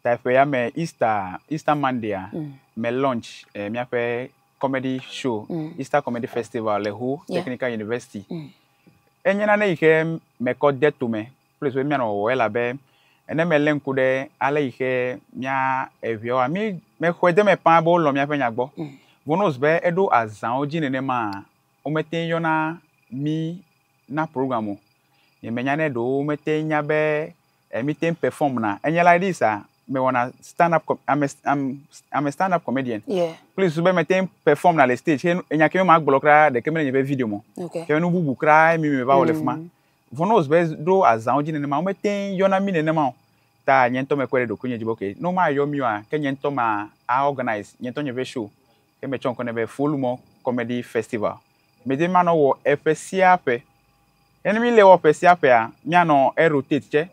Ta eƒea me Easter, Easter Monday-a, mm. me launch eh, míaƒe comedy show, mm. Easter Comedy Festival le Ho yeah. Technical University. Mm. Enye nane yi ke mekɔ de tome kple so míanɔ wɔwɔ elabe ne melé ŋku ɖe ale yi ke mía eʋeawoa mi mexɔe de me paa be wolɔ míaƒe nya gbɔ mm. vonos be eɖo azãwo dzi nenema womete yɔna mi na program o yemenya ne ɖewo mete nya be Eh mi teŋ perform na. Enye la ɖi sa me wɔna stand up com I'm a, I'm, I'm a stand up comedian. Yeah. Kple susu be me teŋ perform na le stage ke enya ke me ma gblɔ kra ɖeke mele nye ƒe video me. Okay. Ke nu bubu kra mi me va wɔ le fima. Mm. Vɔ ne wòzu be ɖo azãwo dzi nenema wo me teŋ yɔna mi nenema o. Ta nye ŋutɔ me kpɔe ɖe ɖokui nye dzi be okay ne wo ma yɔ mi oa ke nye ŋutɔ ma a organise nye ŋutɔ nye ƒe show ke me tsɔ ŋkɔ nɛ be Folumo Comedy Festival. mede manɔ wɔ eƒe sia ƒe. Ne mi le wɔ ƒe sia ƒea, mianɔ erotate tsɛ.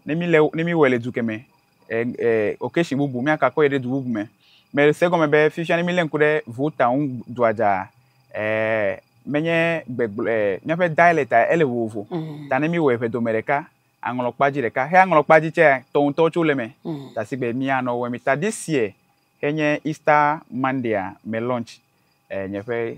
Ne mi le ne mi wɔe le du ke me, e e occasion bubu mia kakɔ yi ɖe du bubu me. Me se egɔme be fifia ne mi le ŋku ɖe vota ŋu dua dza, e menye gbegblɔ e miaƒe dialect a ele vovovo. Mhm. Ta ne mi wɔe ƒe dome ɖeka, aŋlɔ kpa dzi ɖeka. Xe aŋlɔ kpa dzi tsɛ tɔ ŋutɔ tso le me. Mhm. Ta si gbe mianɔ wɔe mi ta this year xe nye Easter Monday a me launch e nye ƒe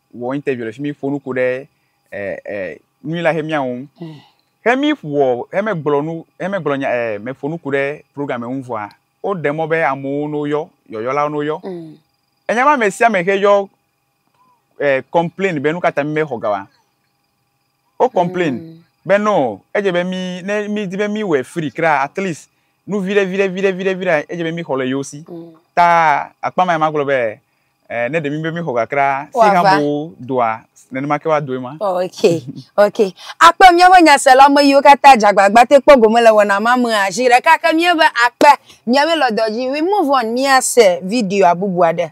wɔ interview le fi mi ƒo nuku ɖe ɛ ɛ nui la hemia ŋu. Hemi wɔ hemegblɔ nu hemegblɔ nya ɛ meƒo nuku ɖe program ŋu vɔa woɖe mɔ be amewo no yɔ yɔyɔlawo no yɔ. Mm. Enya ma ame sia ame xe yɔ ɛ complain be nu ka ta mi mexɔ ga wa. Wo complain be no edze be mi ne mi di be mi wɔ free kra at least nu viɖe viɖe viɖe viɖe viɖe edze be mi xɔ le yewo si. Mm. Ta akpa ma ma gblɔ be eh, ne ɖe mi be mi xɔ kakra si ha bo doa nenema ke wa doe ma. Oh, okay. Okay. Akpe miaƒe nyasela me yiwo katã jagbagba te kpɔ gome le wɔna ma me azi ɖeka ke miabe akpe miabe lɔdɔdzi we move on miase video bubu aɖe.